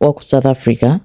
wa ku South Africa,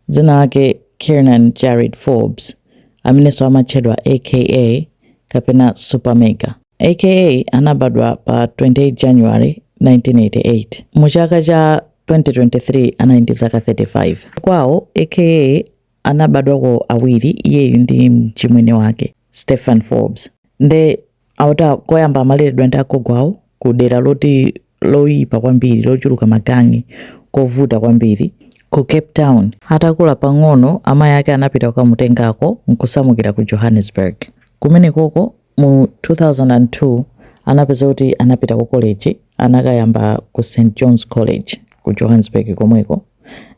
dzina lake Kiernan Jarryd Forbes, amenenso amatchedwa AKA kapena Supa Mega, AKA anabadwa pa 28 January 1988. Mu chaka cha 2023 anali ndi zaka 35. Kwawo AKA anabadwako awiri iyeyu ndi mchimwene wake Stephen Forbes. Nde akuti a- koyamba amaleredwa ndi agogo awo ku dera loti loyipa kwambiri lochuluka magangi kovuta kwambiri ku Cape Town atakula pang'ono amayi ake anapita kukamutengako nkusamukira ku Johannesburg kumenekoko mu 2002 anapeza kuti anapita ku college anakayamba ku St John's College ku Johannesburg komweko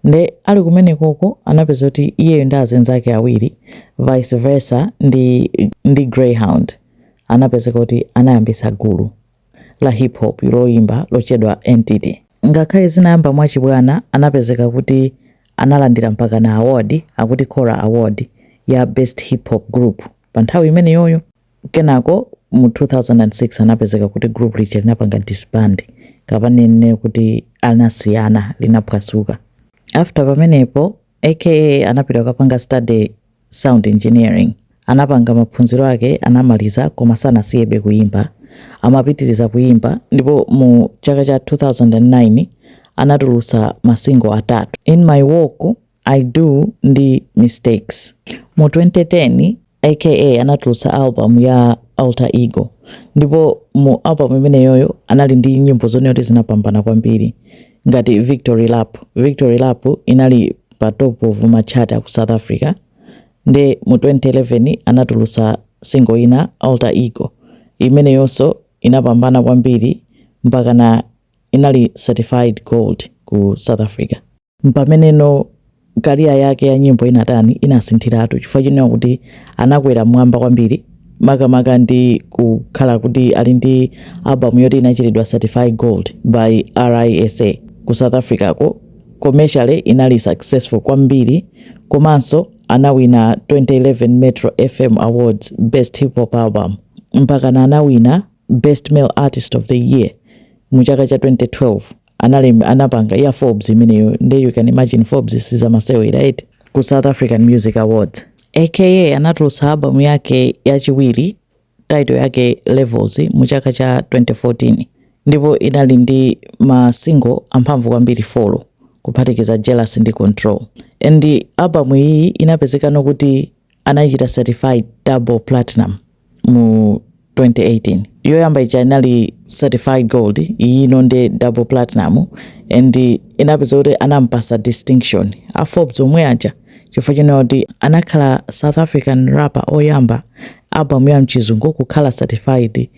Nde ali kumenekoko anapeza kuti iyeyo ndi azinzake awiri Vice Versa ndi, ndi Greyhound anapezeka kuti anayambisa gulu la hip hop loyimba lochedwa Entity. Ngakhale zinayamba mwachibwana anapezeka kuti analandira mpaka na award akuti Kora Award ya Best Hip Hop Group pa nthawi imeneyoyo. Kenako mu 2006 anapezeka kuti group lija linapanga disband kapa ninene kuti anasiyana linaphwasuka. After pamenepo AKA anapita kukapanga study sound engineering anapanga maphunziro ake anamaliza koma sanasiyebe kuimba amapitiriza kuimba ndipo mu chaka cha 2009 anatulusa masingo atatu In My Walk I Do ndi Mistakes. Mu 2010, AKA anatulutsa album ya Altar Ego ndipo mu album imeneyoyo anali ndi nyimbo zonena kuti zinapambana kwambiri ngati Victory Lap. Victory Lap inali pa top of ma chart a ku South Africa nde mu 2011 anatulutsa single ina Altar Ego imeneyonso inapambana kwambiri mpakana inali certified gold ku South Africa. M'pameneno career yake ya nyimbo inatani, inasinthiratu chifukwa chonena kuti anakwera m'mwamba kwambiri makamaka ndi kukhala kuti ali ndi album yoti inachitidwa certify gold by RISA ku South Africa-ko, commercially inali successful kwambiri komanso anawina 2011 Metro FM Awards Best Hip Hop Album mpakana anawina Best Male Artist of the Year mu chaka cha 2012. analemba anapanga ya Forbes imeneyo nde you can imagine Forbes sizamasewera eti ku South African Music Awards AKA anatulutsa album yake yachiwiri title yake Levels mu chaka cha 2014 ndipo inali ndi ma single amphamvu kwambiri four kuphatikiza Jealous ndi Control and album iyi inapezekano kuti anayichita certify double platinum mu 2018 yoyamba ija inali certified gold iyino ndi double platinum and inapezeka kuti anampasa distinction a forbes omwe aja chifukwa chonena kuti anakhala south african rapper oyamba album ya mchizungu kukhala certified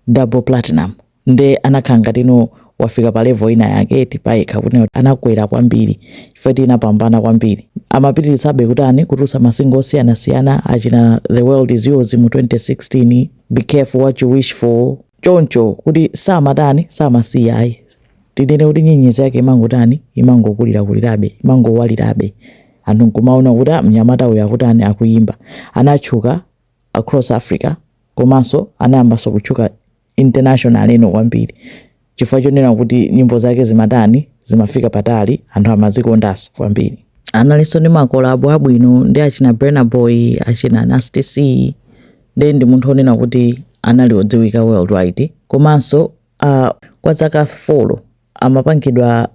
double platinum nde anakhala ngati wina wafika pa level ina yake eti payekha kuti anakwera kwambiri chifukwa eti inapambana kwambiri amapitirisabe kutani kutulutsa masingo osiyanasiyana achina the world is yours mu 2016 be careful what you wish for choncho kuti samatani samasiya ayi tinene kuti nyenyezi yake imangotani imangokulirakulirabe imangowalirabe anthu nkumaona kuti "Ah, mnyamata uyu akutani akuyimba anatchuka across Africa komanso anayambanso kutchuka internationally eti kwambiri chifukwa chonena kuti nyimbo zake zimatani zimafika patali anthu amazikondanso kwambiri analinso ndi makolabo abwino ndi achina Burna Boy achina Nasty C nde ndi munthu onena kuti anali odziwika worldwide komanso uh, kwa zaka 4 amapangidwa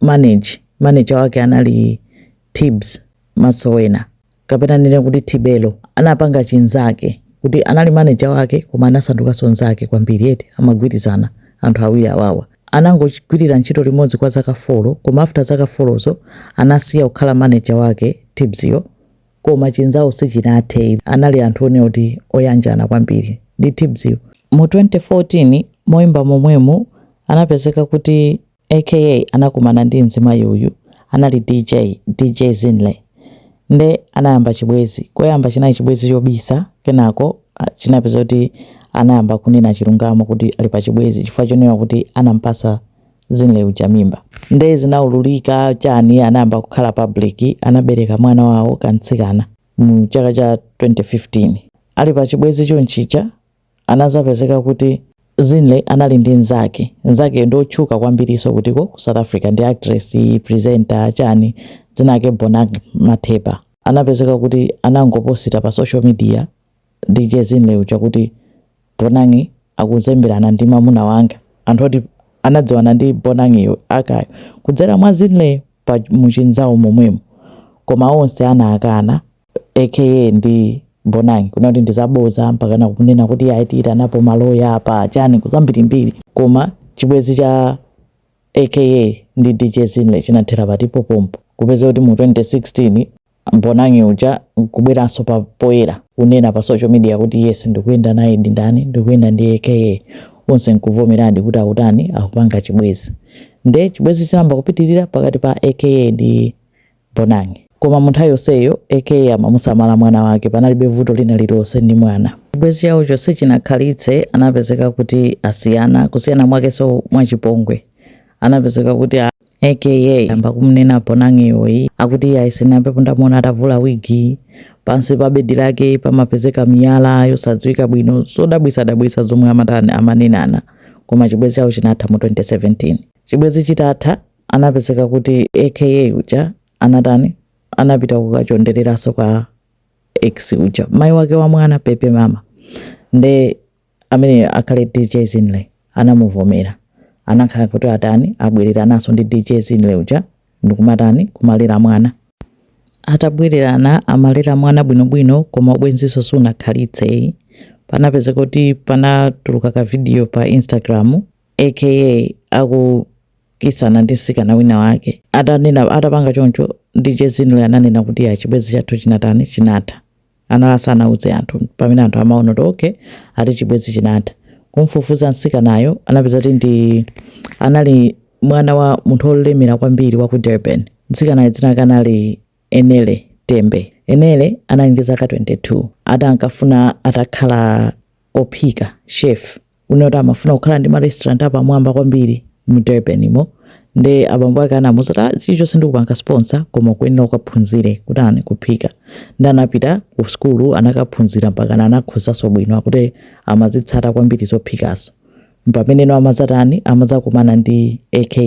manage manager wake anali Tibbs, Motsoane, kapena ndinene kuti Tebello, anapanga chinzake kuti anali manager wake koma anasandukanso nzake kwambiri eti amagwirizana anthu awiri awawa anangogwirira ntchito limodzi kwa zaka folo koma after zaka folozo anasiya kukhala manager wake Tibbsyo koma chinzawo sichinathe anali anthu onena kuti oyanjana kwambiri ndi Tibbsyo mu 2014 moimba momwemu anapezeka kuti aka anakumana ndi mzimayi uyu anali dj dj zinhle nde anayamba chibwezi koyamba chinali chibwezi chobisa kenako ah, chinapezeka kuti anayamba kunena chilungamo kuti ali pa chibwezi chifukwa chonena kuti anampatsa zinhle uja mimba nde zinaululika chani anayamba kukhala public anabereka mwana wawo kamtsikana mu chaka cha 2015 ali pa chibwezi chonchicha anazapezeka kuti Zinhle anali ndi nzake nzakeyo ndi otchuka kwambiriso kutiko ku South Africa ndi actress presenter chani dzina lake Bonang Matheba anapezeka kuti anangoposita pa social media DJ Zinhle uja kuti Bonang akuzemberana ndi mamuna wanga anthu oti anadziwana ndi Bonangyo akayo kudzera mwa Zinhle pa muchinzawo momwemo koma onse anakana aka ndi bonang kunena kuti ndizaboza mpakana kunena kuti ayi tiyitanapo maloya apa chani zambirimbiri koma chibwezi cha aka ndi dj zinhle chinathera kuti pompo kupezeka kuti mu 2016 bonang uja kubweranso pa poyera kunena pa social media kuti yes ndikuyenda naye ndi ndani ndikuyenda ndi aka onse nkuvomeradi kuti akutani akupanga chibwezi nde chibwezi chinayamba kupitirira pakati pa aka ndi Bonang. Koma munthawi yonseyo AKA amamusamala mwana wake panalibe vuto lina lilonse ndi mwana. Chibwezi chawocho sichinakhalitse anapezeka kuti asiyana kusiyana mwakenso mwachipongwe anapezeka kuti aka ayamba kumnena Bonang iyi akuti iye ayisenape ndamuona atavula wigi pansi pa bedi lake pamapezeka miyala yosadziwika bwino zodabwisadabwisa zomwe amatani amanenana koma chibwezi chawo chinatha mu 2017 chibwezi chitatha anapezeka kuti aka uja anatani anapita kukachondereraso kwa ex uja mai wake wa mwana pepa mama nde amene akhale dj zinle anamuvomera anakhala kuti atani abwereranaso ndi dj zinle uja ndikumatani kumalera mwana atabwererana amalera mwana bwinobwino koma ubwenziso sunakhalitse panapezeka kuti panatuluka ka video pa instagram aka aku kissana ndi msikana wina wake. Atanena atapanga choncho, DJ Zinle ananena kuti ya chibwezi chathu chinatani chinatha. Anali asanauze anthu pamene anthu amaona kuti okay ati chibwezi chinatha. Kumfufuza msikanayo anapeza kuti ndi anali mwana wa munthu olemera kwambiri wa ku Durban. Mtsikanayo dzina lake anali Anele Tembe Anele anali ndi zaka 22 ati ankafuna atakhala ophika, chef, kunena kuti amafuna kukhala ndi ma restaurant apamwamba kwambiri mu Durbanimo nde abambo ake anamuuza kuti ah chilichonse ndikupanga sponsor koma ukuyenera ukaphunzire kutani kuphika nde anapita ku school anakaphunzira mpakana anakhozanso bwino akuti amazitsata kwambiri zophikazo mpameneno amadzatani amadzakumana ndi aka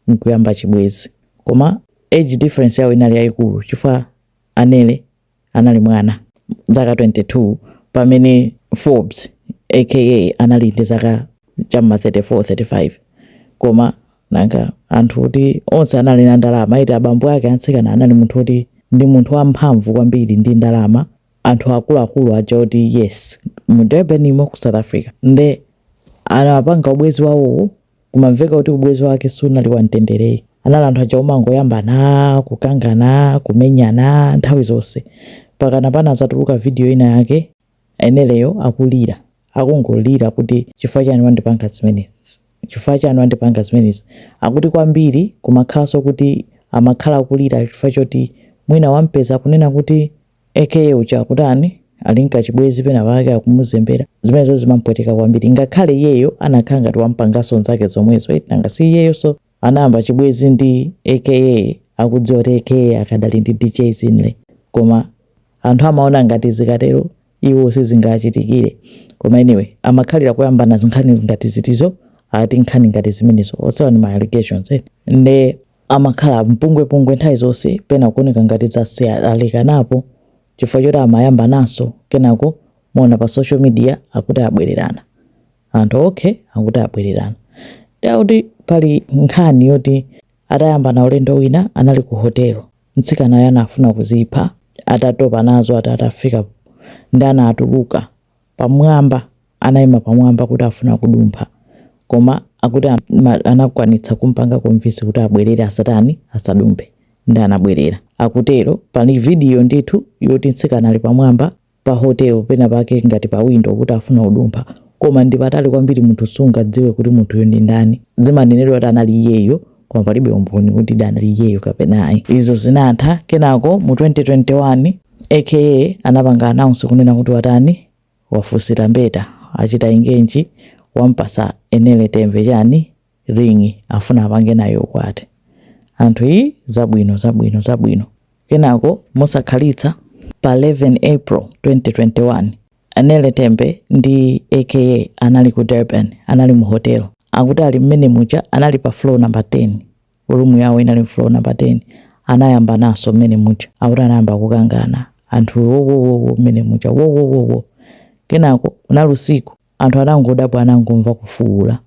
nkuyamba chibwezi koma Age difference yawo inali yayikulu chifukwa Anele anali mwana, zaka 22, pamene Forbes aka anali ndi zaka cha m'ma 34, 35. Koma nanga anthu oti onse anali na ndalama eti, abambo ake a mtsikana anali munthu oti ndi munthu wamphamvu kwambiri ndi ndalama, anthu akuluakulu aja oti yes, mu Durbanimo ku South Africa nde anapanga ubwenzi wawowo kumamveka kuti ubwezi wake sunali wamtendere ayi. Anali anthu aja omangoyambana, kukangana, kumenyana nthawi zonse. Mpakana panazatuluka video ina yake Aneleyo akulira. Akungolira kuti chifukwa chani wandipanga zimenezi? Chifukwa chani wandipanga zimenezi? Akuti kwambiri kumakhalanso kuti amakhala akulira chifukwa choti mwina wampeza akunena kuti aka uja akutani ali n'kachibwezi pena pake akumuzembera zimenezo zimampweteka kwambiri ngakhale iyeyo anakhala ngati wampangaso nzake zomwezo eti nanga si iyeyoso anayamba chibwezi ndi aka akudziwa kuti aka akadali ndi dj zinle koma anthu amaona ngati zikatero iwo sizingachitikire koma anyway amakhalira kuyambana zinkhani ngati zotizo ati nkhani ngati zimenezo onsewa ni ma allegations eh. nde amakhala mpungwepungwe nthawi zonse pena kuoneka ngati basi alekanapo chifukwa choti amayambananso kenako muona pa social media akuti abwererana anthu okay akuti abwererana nde akuti pali nkhani yoti atayambana ulendo wina anali ku hotelo mtsikanayo anafuna kuzipha atatopa nazo ati atafika nde anatuluka pamwamba anaima pamwamba kuti afuna kudumpha koma akuti anakwanitsa kumpanga convince kuti abwerere asatani asadumphe nde anabwerera akutero pali video ndithu yoti mtsikana ali pamwamba pa hotel pena pake ngati pa window kuti afuna kudumpha koma ndi patali kwambiri munthu sungadziwe kuti munthuyo ndi ndani zimanenedwa kuti anali iyeyo koma palibe umboni kuti anali iyeyo kapena ayi. Izo zinatha, kenako mu 2021 AKA anapanga announce kunena kuti watani wafunsira mbeta achita engage wampatsa Anele Tembe chani ring afuna apange naye ukwati anthu ii zabwino zabwino zabwino kenako mosakhalitsa pa 11 april 2021 Anele Tembe ndi AKA anali ku Durban, anali mu hotel. Akuti ali mmene muja anali pa floor number 10, room yawo inali floor number 10, anayambananso mmene muja. Akuti anayamba kukangana, anthu wowowowo mmene muja wowowowo. Kenako unali usiku, anthu anangodabwa anangomva kufuwula.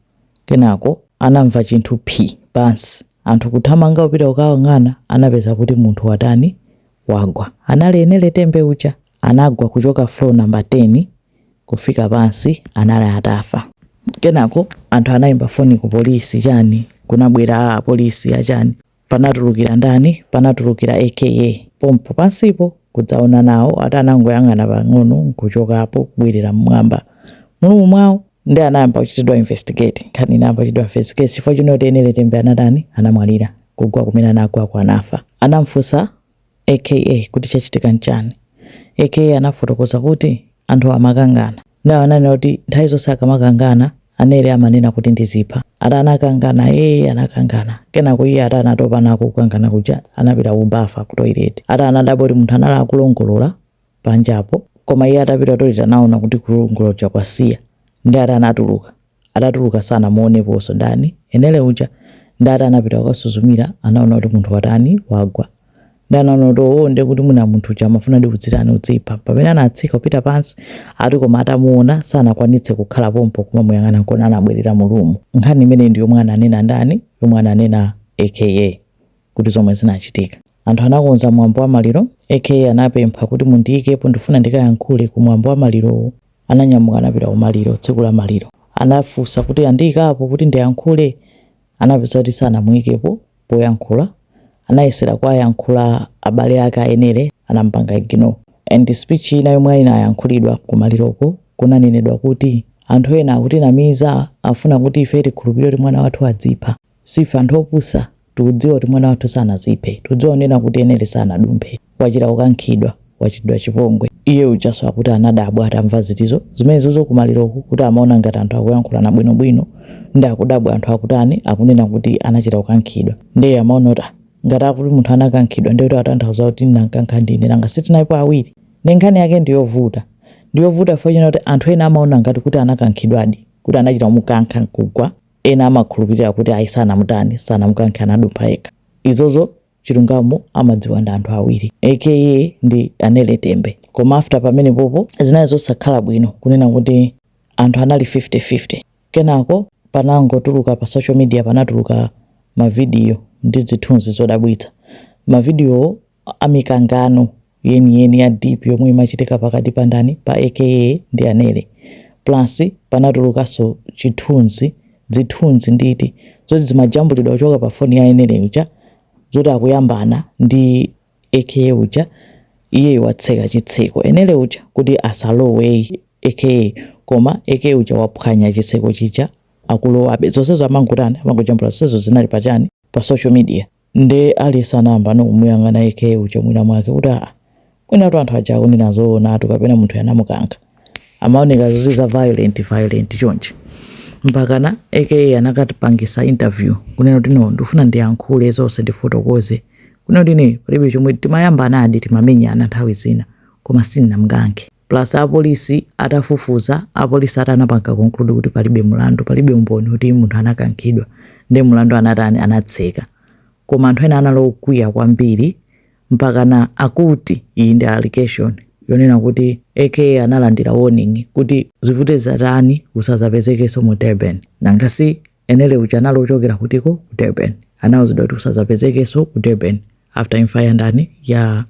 Kenako anamva chinthu phi! pansi. Anthu kuthamanga kupita kukayang'ana anapeza kuti munthu watani? wagwa. Anali Anele Tembe uja. anagwa kuchoka floor number 10 kufika pansi anali atafa kenako anthu anayimba foni ku polisi chani kunabwera apolisi achani panatulukira ndani panatulukira AKA pompo pansipo kudzaona nawo ati anangoyang'ana pang'ono nkuchokapo kubwerera mmwamba mu room mwawo nde anayamba kuchitidwa investigate nkhani inayamba kuchitidwa investigate chifukwa chonena kuti Anele Tembe anatani anamwalira kugwa kumene anagwako anafa anamfunsa AKA kuti chachitika nchani AKA anafotokoza kuti anthuwa amakangana nde ananena kuti nthawi zonse akamakangana Anele amanena kuti ndizipha ati anakangana ee anakangana kenako iye ati anatopa nako kukangana kuja anapita ku bafa ku toilet ati anadabwa kuti munthu anali akulongolola panjapo koma iye atapita ku toilet anaona kuti kulongolola kuja kwasiya nde ati anatuluka Atatuluka sanamuoneponso. Ndani? Anele uja? Nde ati anapita kukasuzumira anaona kuti munthu watani? Wagwa. Nde anaona kuti owoo nde kuti mwina munthu uja amafunadi kudzitani? Kudzipha. Pamene anatsika kupita pansi, ati koma atamuona sanakwanitse kukhala pompo kumamuyang'ana nkona anabwerera mu room. Nkhani imeneyi ndi yomwe ananena ndani? Yomwe ananena AKA kuti zomwe zinachitika. Anthu anakonza mwambo wa maliro AKA anapempha kuti mundiikepo ndifuna ndikayankhule ku mwambo wa malirowo. Ananyamuka anapita kumaliro tsiku la maliro anafunsa kuti andiikapo kuti ndiyankhule anapeza kuti sanamuikepo poyankhula anayesera kuwayankhula abale ake a Enele anamupanga ignore and speech ina yomwe inayankhulidwa kumaliroko kunanenedwa kuti anthu ena akutinamiza akufuna kuti ifeyo tikhulupilire kuti mwana wathu adzipha. Si ife anthu opusa. Tikudziwa kuti mwana wathu sanaziphe. Tikudziwa onena kuti Enele sanadumphe. Wachita kukankhidwa. Wachitidwa chipongwe. Iye ujanso akuti anadabwa atamva zitizi zimenezozo kumaliroko kuti amaona ngati anthu akuyankhulana bwinobwino nde akudabwa anthu akutani akunena kuti anachita kukankhidwa nde amaona kuti ah ngati akuti munthu anakankhidwa nde kuti akutanthauza kuti ndinamkankha ndine nanga sitinalipo awiri nde nkhani yake ndiyovuta ndiyovuta chifukwa china kuti anthu ena amaona ngati kuti anakankhidwadi kuti anachita kumukankha nkugwa Ena amakhulupilira kuti ayi sanamutani sanamukankhe anadumpha yekha izozo chilungamo amadziwa ndi anthu awiri AKA ndi Anele Tembe koma after pamenepopo zinali zosakhala bwino kunena kuti anthu anali 50 50 kenako panangotuluka pa social media panatuluka ma video ndi zithunzi zodabwitsa ma videowo amikangano yeniyeni ya deep yomwe imachitika pakati pa ndani pa AKA ndi Anele plus panatulukanso chithunzi zithunzi nditi zoti zimajambulidwa kuchoka pa foni ya Enele uja zoti akuyambana ndi AKA uja iye watseka chitseko Enele uja kuti asalowe AKA koma AKA uja waphwanya chitseko chija akulowabe zonsezo amangotani amangojambula zonsezo zinali pachani pa social media Nde aliyense anayambano kumuyang'ana AKA uja mwina mwake kuti aa mwinatu anthu aja akunena zoonatu kapena munthuyo anamukankha amaoneka zoti za violent violent chonchi mpakana AKA anakapangitsa interview kunena kuti no ndikufuna ndiyankhule zonse ndifotokoze kunena kuti ine palibe chomwe timayambanadi timamenyana nthawi zina koma sindinamkankhe plus apolisi atafufuza apolisi ati anapanga conclude kuti palibe mlandu palibe umboni kuti munthu anakankhidwa nde mlandu anatani anatseka koma anthu ena anali okwiya kwambiri mpakana akuti iyi ndi allegation yonena kuti AKA analandira warning kuti zivute zatani usazapezekenso mu Durban nanga si Enele uja anali wochokera kutiko ku Durban. Anauzidwa kuti usazapezekenso ku Durban after imfa ya ndani ya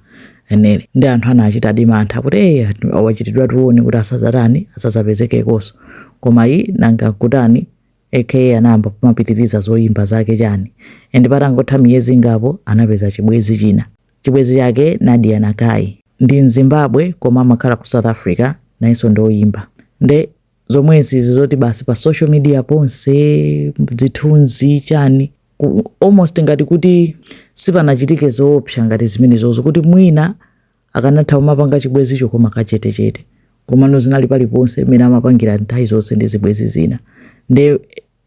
Enele. Nde anthu anachitadi mantha kuti eh wachitidwa warn kuti asazatani asazapezekekonso. Koma iye nanga kutani AKA anayamba kumapitiriza zoyimba zake chani and patangotha miyezi ingapo anapeza chibwezi china chibwezi chake Nadia Nakai ndi Mzimbabwe koma amakhala ku South Africa nayenso ndi oyimba nde zomwezi izi zoti basi pa social media ponse zithunzi chani almost ngati kuti sipanachitike zoopsa ngati zimenezozo kuti mwina akanatha kumapanga chibwezicho koma kachetechete komano zinali paliponse mmene amapangira nthawi zonse ndi zibwezi zina nde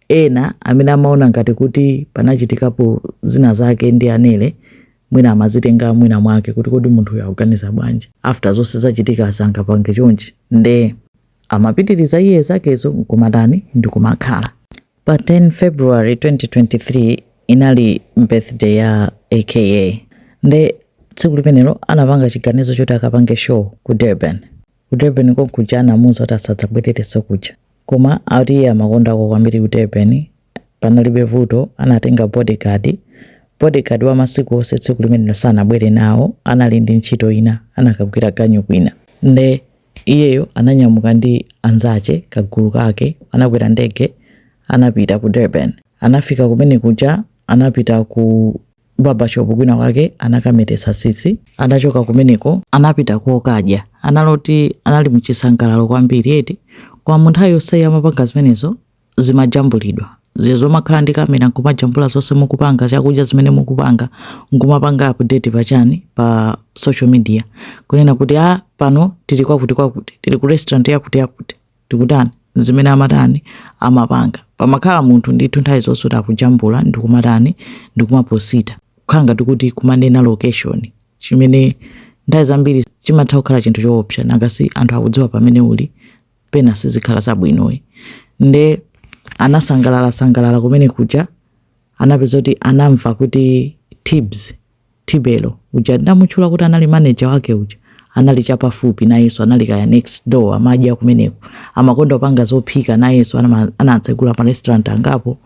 Ena amene amaona ngati kuti panachitikapo zina zake ndi Anele mwina amazitenga mwina mwake kuti kodi munthu uyu akuganiza bwanji after zonse zachitikazi angapange chonchi nde amapitiliza iye zakezo nkumatani ndikumakhala. Pa 10 February 2023 inali birthday ya aka nde tsiku limenelo anapanga chiganizo choti akapange show ku Durban. Ku Durban konkuja anamuuza kuti asadzabwererenso kuja. Koma akuti iye amakondakoko kwambiri ku Durban. Panalibe vuto, anatenga bodyguard, bodyguard wa masiku onse tsiku limenelo sanabwere nawo, anali ndi ntchito ina, anakagwira ganyu kwina. Nde iyeyo ananyamuka ndi anzache, kagulu kake, anakwera ndege anapita ku Durban. Anafika kumene kuja anapita ku. barbershop kwina kwake anakametetsa tsitsi adachoka kumeneko anapita kokadya ana woti anali mchisangalalo kwambiri eti komano nthawi yonseyi amapanga zimenezo zimajambulidwa zija zomakhala ndi kamera nkumajambula zonse mukupanga chakudya zimene mukupanga nkumapanga update pachani pa social media kunena kuti a pano tili kwakuti kwakuti tili ku restaurant yakuti yakuti tikutani zimene amatani amapanga pamakhala munthu ndithu nthawi zonse kuti akujambula ndikumatani ndikumaposita kukhala ngati kuti kumanena location chimene nthawi zambiri chimatha kukhala chinthu choopsa nanga si anthu akudziwa pamene uli pena sizikhala zabwino ayi nde anasangalala sangalala kumene kuja anapeza kuti anamva kuti tibs Tibelo, uja ndamutchula kuti anali manager wake uja, anali chapafupi nayenso anali kaya next door amadya kumeneko. Amakonda kupanga zophika nayenso anama- anatsegula ma restaurant angapo.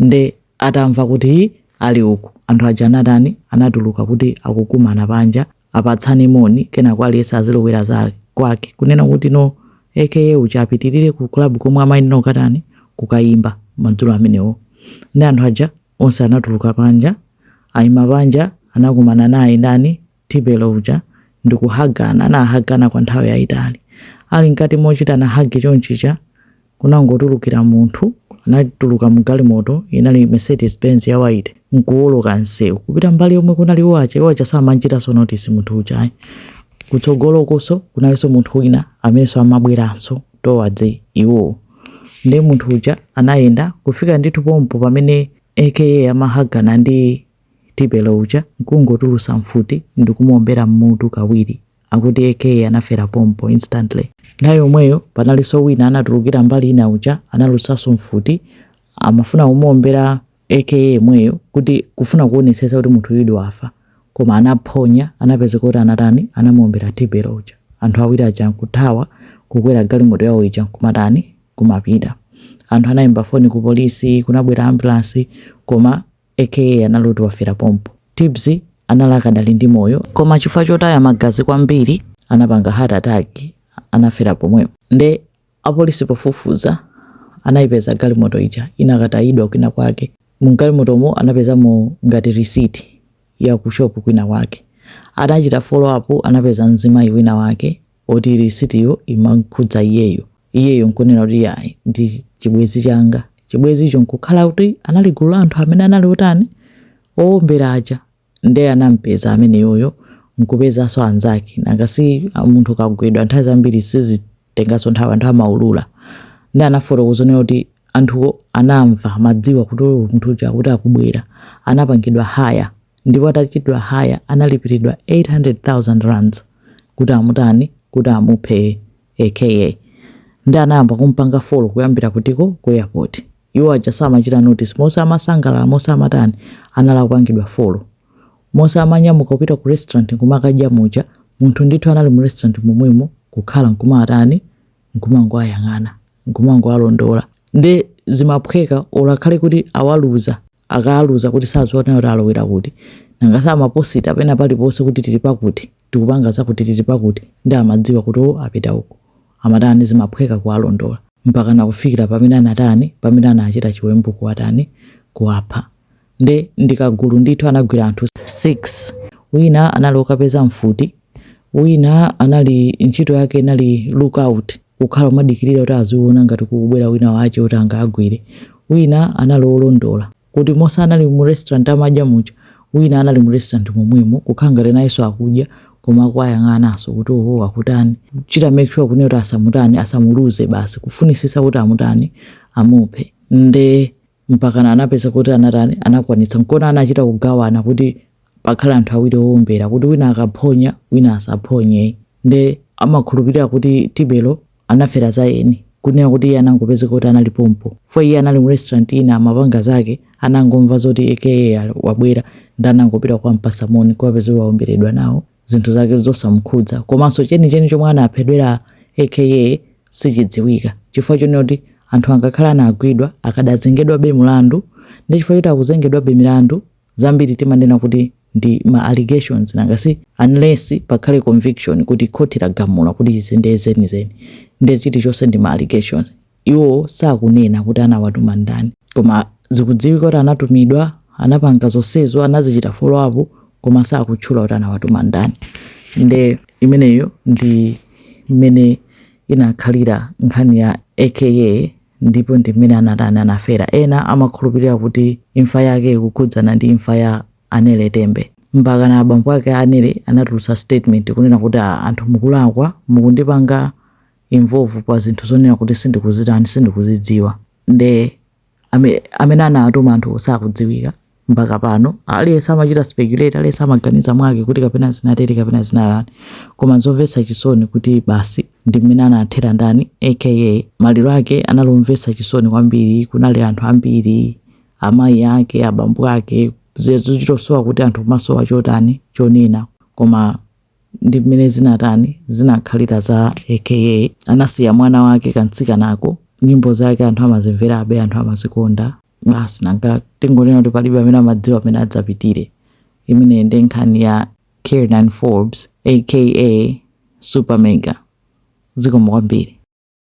Nde atamva kuti hi ali uku anthu aja anatani anatuluka kuti akukumana panja apatsane moni kenako aliyense azilowera za kwache kunena kuti no aka uja apitirire ku club komwe amayenera kukatani kukayimba madzulo amenewo. Ndi anthu aja Onse anatuluka panja. Aima panja anakumana naye ndani Tibelo uja ndi kuhagana. Anahagana kwa nthawi yayitali. Ali mkati mochitana hug chonchija kunangotulukira munthu anatuluka mu galimoto inali Mercedes Benz ya white nkuwoloka msewu kupita mbali yomwe kunali achina AKA samamuchitanso notice munthu uja ayi kutsogolokonso kunalinso munthu wina amenenso amabweranso towards iwowo Nde munthu uja anayenda kufika ndithu pompo pamene aka amahagana ndi Tibelo uja nkungotulusa mfuti ndikumuombera mmutu kawiri akuti aka anafera pompo instantly. Nthawi yomweyo panalinso wina anatulukira mbali ina uja anatulusaso mfuti amafuna kumuombera AKA yemweyo kuti kufuna kuonetsetsa kuti munthudi wafa koma anaphonya anapezeka kuti anatani anamuombera tibelo uja anthu awiri aja nkuthawa kukwera galimoto yawo ija nkumatani kumapita anthu anayimba foni ku polisi kunabwera ambulance koma AKA anali kuti wafera pompo tibbs anali akadali ndi moyo koma chifukwa chotaya magazi kwambiri anapanga heart attack anafera pomwepo nde Apolisi pofufuza anaipeza galimoto ija inakatayidwa kwinakwake. M'galimotomo anapezamo ngati risiti ya kushopu kwinakwake. Anachita follow up anapeza mzimayi winawake woti risitiyo imakhudza iyeyo. Iyeyo n'kunena kuti iyayi ndi chibwenzi changa. Chibwenzicho n'kukhala kuti anali gulu la anthu amene anali otani? Owombera aja. nde anampeza ameneyoyo nkupezanso anzake nanga si munthu ukagwidwa nthawi zambiri sizitenganso nthawi anthu amaulula nde anafotokoza naye kuti anthuwo anamva amadziwa kuti "Oh, munthu uja akuti akubwera anapangidwa haya ndipo atachitidwa haya analipiridwa 800000 rands kuti amutani kuti amuphe AKA nde anayamba kumpanga follow kuyambira kutiko ku airport iwo aja samachita notice monse amasangalala monse amatani anali akupangidwa follow monse amanyamuka kupita ku restaurant nkumakadya muja munthu ndithu anali mu restaurant momwemo kukhala nkumatani nkumangoayang'ana nkumangoalondola nde zimaphweka olo akhale kuti awaluza akaaluza kuti sadziwa kuti alowera kuti nanga si amaposita pena paliponse kuti tili pakuti tikupanga zakuti tili pakuti nde amadziwa kuti o apita uku amatani zimaphweka kuwalondola mpaka nakufikira pamene anatani pamene anachita chiwembu kuwatani kuwapha nde ndikagulu ndithu anagwira anthu 6 wina anali okapeza mfuti Wina anali, ntchito yake inali look out, kukhala omadikirira kuti aziona ngati kukubwera wina wache oti angaagwire. Wina anali olondola, kuti monse anali mu restaurant amadya muja, wina anali mu restaurant momwemo, kukhala ngati nayenso akudya, koma akuwayang'ananso kuti oho akutani, kuchita make sure kunena kuti asamutani, asamuluze basi, kufunisisa kuti amutani, amuphe. Nde mpakana anapeza kuti anatani anakwanitsa nkona anachita kugawana kuti pakhale anthu awiri owombera kuti wina akaphonya wina asaphonye nde amakhulupirira kuti tibelo anafera za eni kunena kuti iye anangopezeka kuti anali pompo fo iye anali mu restaurant ina amapanga zake anangomva zoti AKA wabwera ndanangopita kukampatsa moni kupezeka waomberedwa nawo zinthu zake zosamkhudza komanso chenicheni chomwe anaphedwera AKA sichidziwika chifukwa chonena kuti anthu angakhale anagwidwa akadazengedwabe mlandu ndi chifukwa choti akuzengedwabe milandu zambiri timanena kuti ndi ma allegations nanga si unless pakhale conviction kuti khoti lagamula kuti izi ndiye zenizeni ndiye chilichonse ndi ma allegations Iwo sakunena kuti anawatuma ndani. Koma zikudziwika kuti anatumidwa, anapanga zonsezo, anazichita follow up koma sakutchula kuti anawatuma ndani. Nde imeneyo ndi mmene inakhalira nkhani ya AKA ndipo ndi mmene anatani anafera. Ena amakhulupirira kuti imfa yake ikukhudzana ndi imfa ya Anele Tembe. Mpakana abambo ake a Anele anatulutsa statement kunena kuti, ah, anthu mukulakwa, mukundipanga involve pa zinthu zonena kuti sindikuzitani sindikuzidziwa nde ame- amene anawatuma anthu sakudziwika mpaka pano aliyense amachita speculate aliyense amaganiza mwake kuti kapena zinatere kapena zinatani koma zomvetsa chisoni kuti basi ndi mmene anathera ndani AKA maliro ake anali omvetsa chisoni kwambiri kunali anthu ambiri amayi ake abambo ake zizochitosowa kuti anthu kumasowa chotani chonena koma ndi mmene zinatani zinakhalira za AKA anasiya mwana wake kamtsikanako nyimbo zake anthu amazimverabe anthu amazikonda basi nanga tingonena kuti palibe amene amadziwa mmene adzapitire imene ndi nkhani ya Kiernan Forbes aka Super Mega zikomo kwambiri